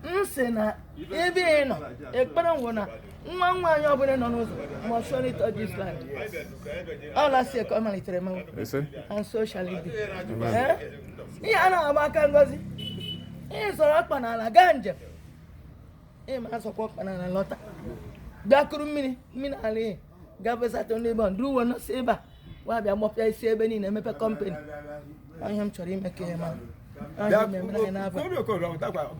m sị na ebe ị nọ ekpere nwoke na nwa nwaanyị ọbụla nọ n'ụzọ must surely touch this land ala sị ka ọ malitere mawa and so shall it be ihe a na-agba aka ngozi ị zọrọ ọkpa n'ala gaa njem ịma azọkwa ọkpa n'ala lọta bịa kuru mmiri mmiri ala ihe gafesatụ ndị bọnd ruo uwe nọsị ebe a wa bịa gbọpịa isi ebe niile emepe kọmpani ihe m chọrọ ime ka ihe mara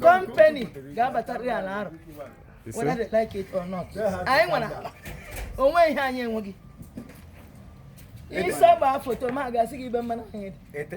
kọmpani ga-abatarị ala arụ whether they like it or not anyị nwere ala o nwe ihe anyị enweghị ịsọ gbaa foto ma gosi gị ebe mmanụ anyị dị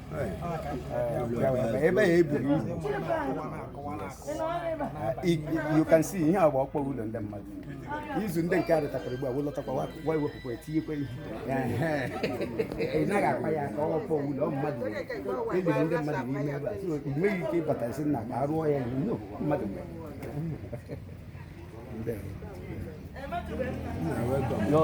ebe ya ebiri you can see ihe a bụ ọkpọ ụlọ ndị mmadụ izu ndị nke a dịtakwara ugbu a wee lọtakwa wa ewepụkwa etinyekwa ihe ị naghị akpa ya aka ọkpọ ụlọ mmadụ e liri ndị mmadụ n'ime ebe a so ị nweghị ike ịbata sị na ka arụọ ya ihe no mmadụ mgbe Yo.